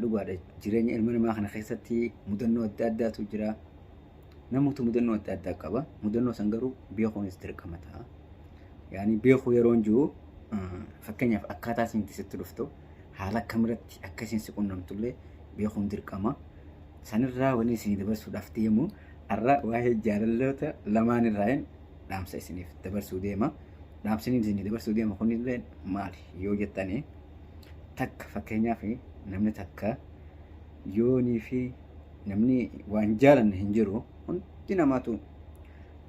Dhugaadha jireenya ilma namaa kana keessatti mudannoo adda addaatu jira. Namoota mudannoo adda addaa qaba. Mudannoo san garuu beekuunis dirqama ta'a. Yaani beekuu yeroo hin jiru fakkeenyaaf akkaataa isin itti sitti dhuftu haala akkamiratti akka isin si qunnamtu illee beekuun dirqama. Sanirraa wanni isin dabarsuudhaaf deemu har'a waa'ee jaalalloota lamaan irraa hin dhaamsa isiniif dabarsuu deema. Dhaamsiniin isin dabarsuu deema kunillee maali yoo jettanii takka fakkeenyaaf namni takka yoonii fi namni waan jaalanne hin jiru hundi namaatu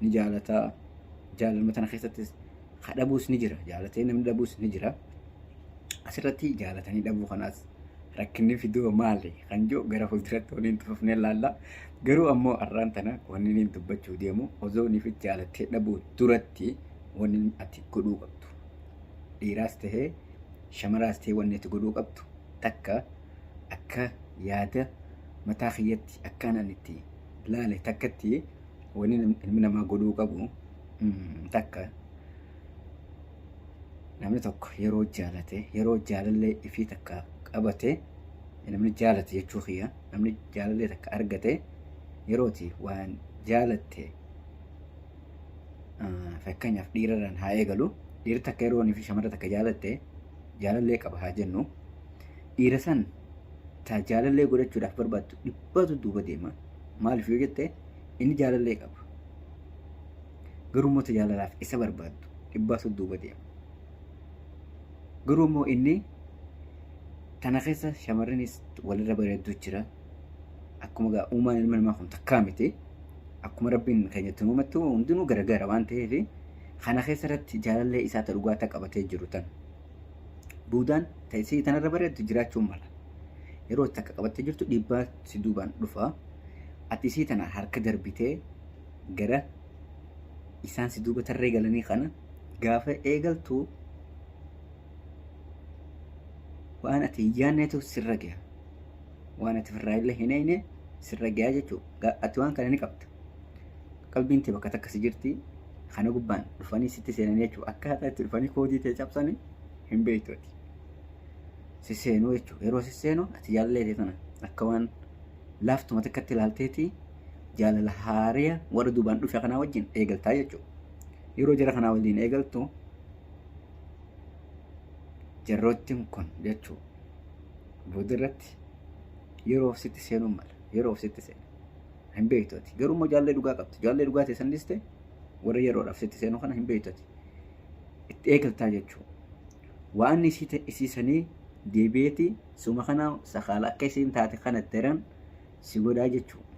ni jaalata jaalalma tana keessattis ka dhabuus ni jira jaalatee namni dhabuus ni jira asirratti jaalatanii dhabuu kanaas rakkinni fidoo maali kan jiru gara fuulduratti waliin tufufnee laalla garuu ammoo arraan tana wanni inni dubbachuu deemu osoo inni fi jaalattee dhabuu duratti wanni ati godhuu qabdu dhiiraas tahee shamaraas ta'ee wanni ati godhuu qabdu takka akka yaada mataa kiyyatti akkaan an itti laale takkatti wanni nam- ilmi namaa godhuu qabu mm, takka namni tokko yeroo jaalate yeroo jaalallee ifii takka qabate namni jaalate jechuu kiyya namni jaalallee takka argate yerooti waan jaalatte fakkeenyaaf dhiirarraan haa eegalu dhiirri takka yeroo fi shamarra takka jaalatte jaalallee qaba haa jennu dhiira san taa jaalallee godhachuudhaaf barbaaddu dhibbatu duuba deema maaliif yoo jette inni jaalallee qaba garuu immoo jaalalaaf isa barbaaddu dhibbatu duuba deema garuu immoo inni tana keessa shamarranis walirra bareedduu jira akkuma gaa uumaan ilma namaa kun takkaa miti akkuma rabbiin keenyatti uumattu hundinuu garagara waan ta'eef kana keessa irratti jaalallee isaa ta dhugaa ta qabatee jiru tan buudaan ta isii tanarra bareeddu jiraachuun mala yeroo itti akka qabattee jirtu dhiibbaa si duubaan dhufa ati isii tana harka darbitee gara isaan si duuba tarree galanii kana gaafa eegaltu waan ati hin yaanneetu sirra gaha waan ati ofirraa illee hin eegne sirra gayaa jechuudha. Ati waan kana ni qabda. Qalbiin tee bakka takka si jirti. Kana gubbaan dhufanii sitti seenan jechuudha. Akkaataa itti dhufanii koodii tee cabsanii hin beektu ati. Si seenuu jechuudha. Yeroo si seenu ati jaalallee tee tana akka waan laaftuma takkatti ilaalteetii jaalala haariya warra duubaan dhufe kanaa wajjin eegaltaa jechuudha. Yeroo jara kanaa waliin eegaltu jarroottiin kun jechuudha. Boodarratti yeroof sitti seenuun mala. Yeroof sitti seena. Hin beektu ati. Garuu immoo jaallee dhugaa qabdi. Jaallee dhugaa ta'e san dhiste warra yeroodhaaf sitti seenu kana hin beektu ati. Itti eegaltaa jechuudha. Waan isii ta- isii sanii deebi'eeti suma kana sakaala akka isiin taate kana itti heran si godhaa jechuudha.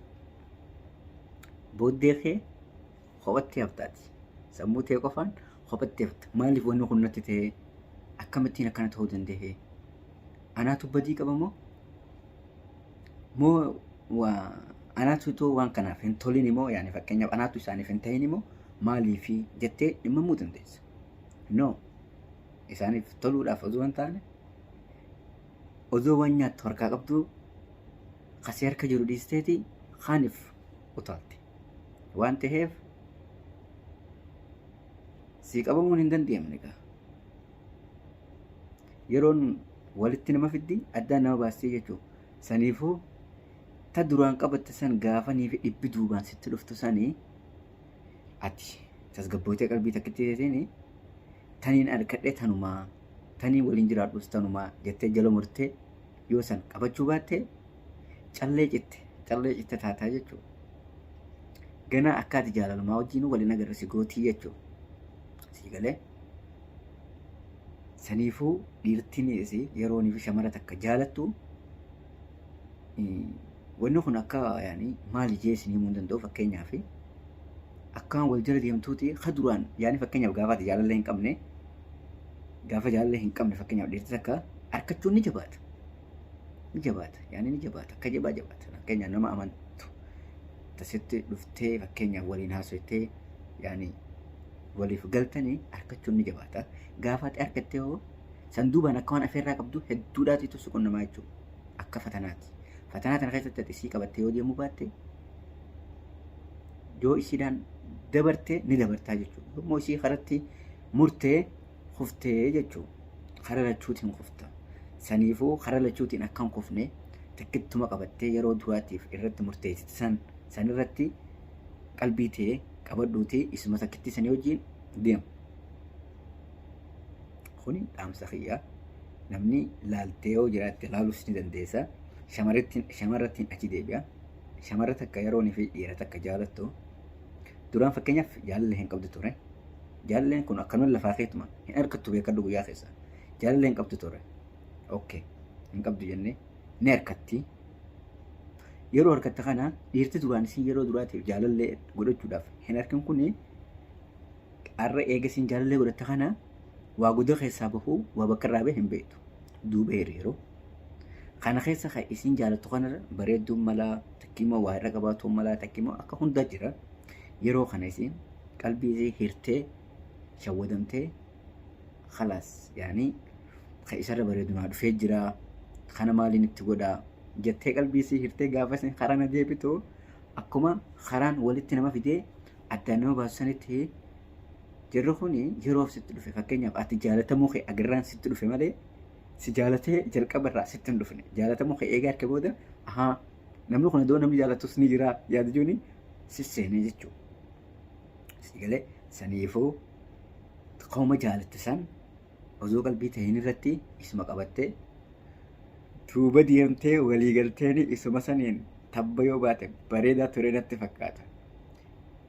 Booddee kee kophatti haftaati. Sammuu ta'e qofaan kophatti hafta. Maaliif wanni kun natti ta'e? Akkamittiin akkana ta'uu danda'e? Anaatu badii qaba moo? Moo waa anaatu itoo waan kanaaf hin tolin moo yaani fakkeenyaaf anaatu isaaniif hin ta'in moo maaliifi jettee dhimmamuu dandeessa. No isaaniif toluudhaaf osoo hin taane osoo waan nyaattu harkaa qabdu kasee harka jiru dhiisteeti kaaniif utaalte. Waan ta'eef sii qabamuun hin dandeenye gaa. yeroon walitti nama fiddi addaan nama baastee jechuudha. Saniifuu ta duraan qabatte san gaafanii fi dhibbi duubaan sitti dhuftu sanii ati tasgabbootee qalbii takkitti teetiin taniin arkadhee tanumaa taniin waliin jiraadhus tanumaa jettee jala murtee yoo san qabachuu baatte callee citte callee citte taataa jechuudha. Ganaa akkaati jaalalumaa wajjin waliin agarra si gootii jechuudha. Sii galee. Saniifuu dhiirtiin yeroon fi shamara takka jaalattu wanni kun akka yaani maali jee isin himuu hin danda'u fakkeenyaaf akkaan wal jala deemtuuti ka duraan yaani fakkeenyaaf gaafa ati jaalala hin qabne gaafa jaalala hin qabne fakkeenyaaf dhiirtii takka arkachuun ni jabaata. Ni jabaata yaani ni jabaata akka jabaa jabaata fakkeenyaaf nama amantu tasitti dhuftee fakkeenyaaf waliin haasoftee yaani waliif galtani arkachuun ni jabaata. Gaafa ati arkattee hoo san duubaan akka waan afeerraa qabdu hedduudhaatiitu si qunnamaa jechuudha. Akka fatanaati. Fatanaa tana keessatti ati isii qabattee yoo deemuu baatte yoo isiidhaan dabarte ni dabartaa jechuudha. Yommuu isii karatti murtee kuftee jechuudha. Kara lachuutiin kufta. Saniifuu kara lachuutiin akka hin kufne takkittuma qabattee yeroo duraatiif irratti murteessite san sanirratti qalbii tee qabadhuuti isuma takkittii sanii wajjin deemu. Kuni dhaamsa kiyya. Namni laaltee yoo jiraatte laalus ni dandeessa. Shamarrattiin achi deebi'a. Shamarra takka yeroon fi dhiira takka jaalattu. Duraan fakkeenyaaf jaalallee hin qabdu ture. Jaalalleen kun akkanuma lafaa keetuma hin argattu beekadhu guyyaa keessa. Jaalallee hin qabdu ture. Okkee hin qabdu jennee. ni harkatti. Yeroo harkatte kana dhiirti duraan isin yeroo duraatiif jaalallee godhachuudhaaf hin harkin kun har'a eega isin jaalallee godhatte kana waa guddaa keessaa bahuu waa bakka irraa bahe hin beektu. Duuba hiriiroo. Kana keessa kan isin jaalattu kanarra bareedduun malaa takkiimmoo waa irra qabaatuun malaa takkiimmoo akka hundaa jira. Yeroo kana isin qalbii isii hirtee shawwadamtee khalaas yaanii ka isarra bareedu naa dhufee jira kana maaliin itti godha jettee qalbii sii hirtee gaafa isin karana deebitu akkuma karaan walitti nama fidee addaan nama baasu sanitti jirri kun yeroof sitti dhufe fakkeenyaaf ati jaalatamuu kee agarraan sitti dhufe malee si jaalatee jalqaba irraa sitti hin dhufne jaalatamuu kee eegaa arke booda ahaa namni kun iddoo namni jaalatus ni jira yaada jechuun si seenee jechuudha. Sigalee saniifuu Kauma jaalatte san osoo qalbii tahin irratti isuma qabattee duuba deemtee walii galteeni isuma saniin tabba yoo baate bareedaa ture natti fakkaata.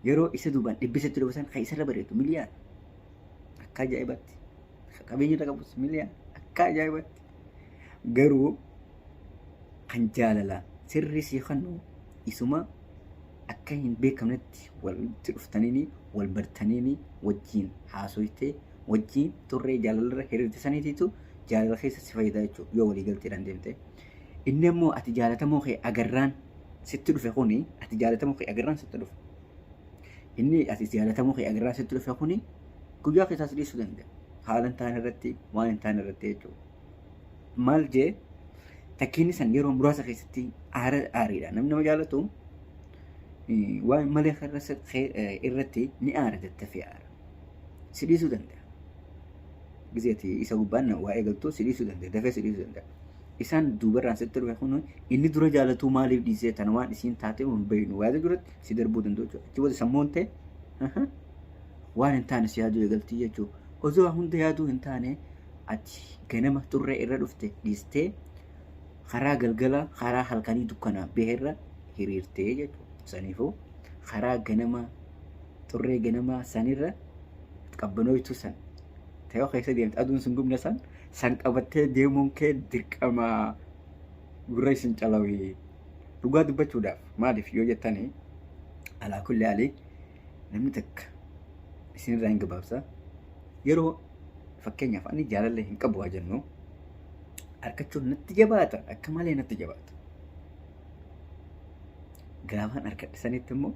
Yeroo isa duubaan dhibbisatti dhufasan kan isarra bareedu miliyaan akka ajaa'ibatti. Qabeenya irra qabus miliyaan akka ajaa'ibatti. Garuu kan jaalala sirrii sii kennu isuma akka hin beekamnetti walitti dhuftaniini wal bartaniini wajjin haasoytee wajjin turree jaalalarra hiriirte saniitiitu jaalala keessa si fayyada jechuudha yoo walii galteedhaan deemte. Inni ammoo ati jaalatamoo kee agarraan sitti dhufe kuni ati jaalatamoo kee agarraan sitti dhufe. Inni ati jaalatamoo kee agarraan sitti dhufe kuni Guyyaa keessaas dhiisuu danda'a. Haala hin taane irratti waan hin taane irratti jechuudha. Maal jee takkiinni san yeroo muraasa keessatti aara aariidha. Namni nama jaallatu eh, waan hin malee irra sa- kee- eh, irratti ni aara daddafee aara. Si dhiisuu danda'a. Gizeeti isa gubbaan na- waa eegaltu si dhiisuu danda'a. Dafee si dhiisuu danda'a. Isaan duubarraan sitti dhufe kun inni dura jaallatu maaliif dhiisee tana waan isiin taatee hin beeknu waada duratti si darbuu danda'u jechuudha. Achi booda sammuun ta'e. waan hin taane si yaaduu eegaltii jechuudha. Osoo waan hunda yaaduu hin taane ati ganama xurree irra dhufte dhiistee karaa galgala karaa halkanii dukkanaa baherra hiriirtee jechuudha. Saniifuu karaa ganamaa xurree ganamaa sanirra qabbanooytuu san ta'ee keessa deemte aduun sun gubne san san qabattee deemuun kee dirqama gurra isin calawii dhugaa dubbachuudhaaf maaliif yoo jettanii alaa kulli alii namni takka isinirraa hin gabaabsa yeroo fakkeenyaaf ani jaalallee hin qabu haa jennu arkachuun natti jabaata akka malee natti jabaata. Gaafaan arkadhe sanitti immoo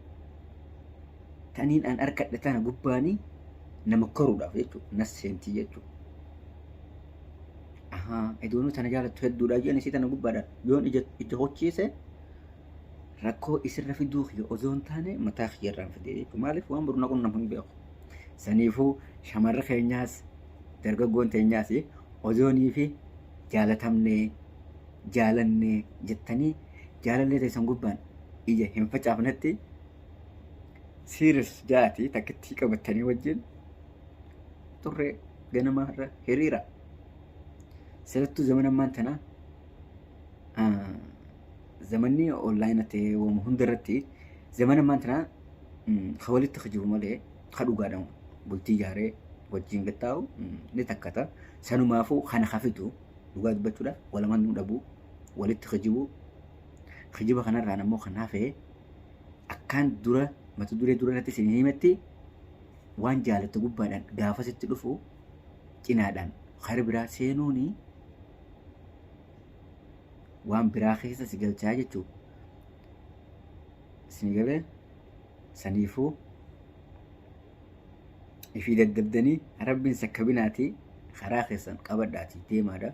taniin an arkadhe tana gubbaanii nama koruudhaaf jechuudha na seentii jechuudha. Ahaa idoonuu tana jaalattu hedduudha jedhan isii tana gubbaadha yoon ija ija hochiise rakkoo isirra fiduu kiyya osoo hin taane mataa kiyya irraan fidee jechuudha. Maaliif waan boru na qunnamu hin beeku. Saniifuu shamarri keenyaas dargaggoon teenyaas ozoonii fi jaalatamnee jaalannee jettanii jaalallee teessan gubbaan ija hin facaafnetti siiris jaati takkittii qabattanii wajjin turree ganamaa irra hiriira. Sirattuu zaman ammaan tanaa zamanni onlaayina ta'ee wamu hunda irratti zamana ammaan tanaa ka walitti kijibu malee ka dhugaadhaan bultii ijaaree wajjin gattaa'u ni takkata. Sanumaafuu kana ka fidu dhugaa dubbachuudhaaf wal amanuu dhabuu walitti kijibuu kijiba kanarraan ammoo kan hafe akkaan dura mata duree dura irratti isin himetti waan jaalatte gubbaadhaan gaafasitti dhufu cinaadhaan kara biraa seenuuni waan biraa keessa si galchaa jechuu isin galee saniifuu ifii daddabdanii rabbiin sakkabinaatii karaa keessan qabadhaatii deemaadha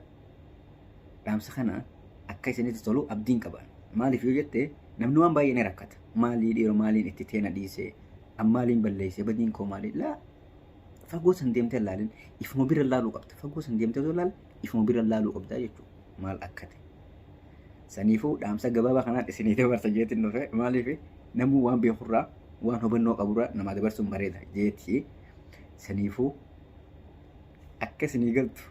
dhaamsa kana akka isinitti tolu abdiin qaban maaliif yoo jette namni waan baay'ee ni rakkata maalii dhiiroo maaliin itti teena dhiise ammaaliin balleesse badiin koo maalii laa fagoo san deemtee laalin ifuma bira laaluu qabda fagoo san deemtee osoo laalin ifuma bira laaluu qabdaa jechuudha. Maal akka ta'e. Saniifuu dhaamsa gabaabaa kanaan isinii dabarsa jeetiin dhufe maaliif namuu waan beekurraa waan hubannoo qaburraa namaa dabarsuun bareeda jeetii saniifuu akka isinii galtu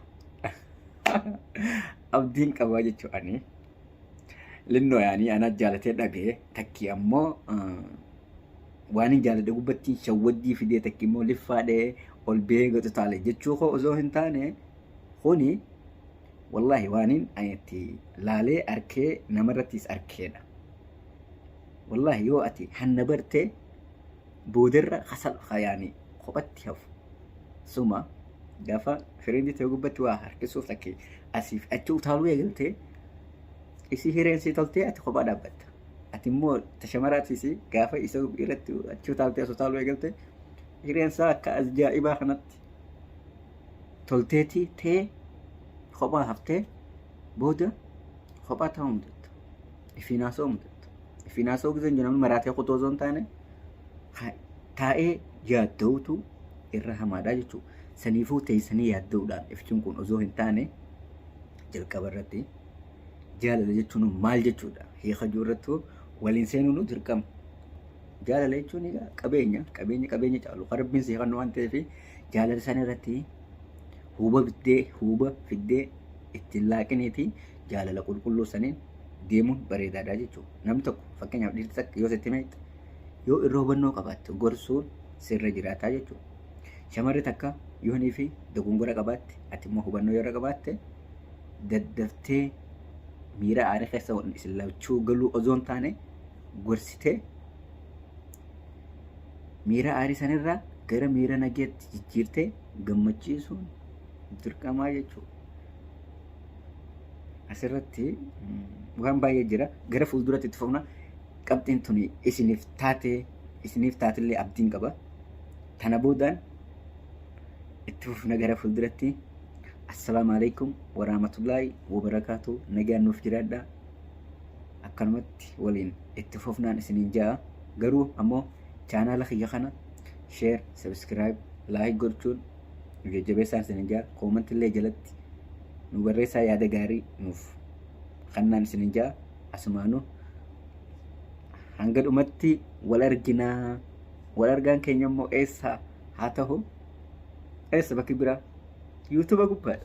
abdiin qabaa jechuu ani linnoo yaanii anaa jaalatee dhagee takkii ammoo waan hin jaaladhe gubbattiin shawwaddii fidee takkii immoo liffaadhee ol bee gatu taale jechuu koo osoo hin taane Kuni wallahi waanin ani itti laalee arkee namarrattis arkeedha. Wallahi yoo ati hanna barte boodarra hasal hayaani kophatti hafu. Suma gaafa firiindi ta'e gubbatti waa harkisuuf takki asiif achi utaaluu eegalte isii hireen sii toltee ati kophaa dhaabbatta. Ati immoo tashamaraatiis gaafa isa irratti achi utaaltee as utaaluu eegalte hireen isaa akka ajaa'ibaa kanatti tolteeti tee kophaa haftee booda kophaa taa'uu mudatta. Ifiin haasa'uu mudatta. Ifiin haasa'uu giseen jennamu maraatee kutuu osoo hin taane taa'ee yaadda'utu irra hamaadha jechuudha. Saniifuu teessanii yaadda'uudhaan ifchuun kun osoo hin taane jalqaba irratti jaalala jechuun maal jechuudha? Hiika jiru irratti waliin seenuun dirqama. Jaalala jechuun egaa qabeenya, qabeenya qabeenya caalu kan rabbiin si kennu waan ta'eef jaalala san irratti huuba biddee huuba fiddee ittiin laaqiniiti jaalala qulqulluu saniin deemuun bareedaadha jechuudha. Namni tokko fakkeenyaaf dhiirti takka yoo sitti meexxe yoo irra hubannoo qabaatte gorsuun sirra jiraataa jechuudha. Shamarri takka yoo hinii fi dogongora qabaatte ati immoo hubannoo yoo irra qabaatte daddaftee miira aarii keessa isin lachuu galuu osoo hin taane gorsite miira aarii sanirraa gara miira nageetti jijjiirtee gammachiisuun dirqamaa jechuudha. Asirratti waan baay'ee jira. Gara fuulduratti itti fufna. Qabxiin tuni isiniif taatee isiniif taatellee abdiin qaba. Tana boodaan itti fufna gara fuulduratti. Assalaamu alaikum warahmatullaahi wabarakaatu. Nagaan nuuf jiraadhaa. akkanumatti waliin itti fufnaan isiniin ja'a garuu ammoo chaanaala kiyya kana sheer sabiskiraayib laayik gochuun nu jajjabeessaan isiniin ja'a koomanti illee jalatti nu barreessaa yaada gaarii nuuf kannaan isiniin ja'a asumaanuu hanga dhumatti wal arginaa wal argaan keenya immoo eessa haa ta'u eessa bakki biraa yuutuuba gubbaadha.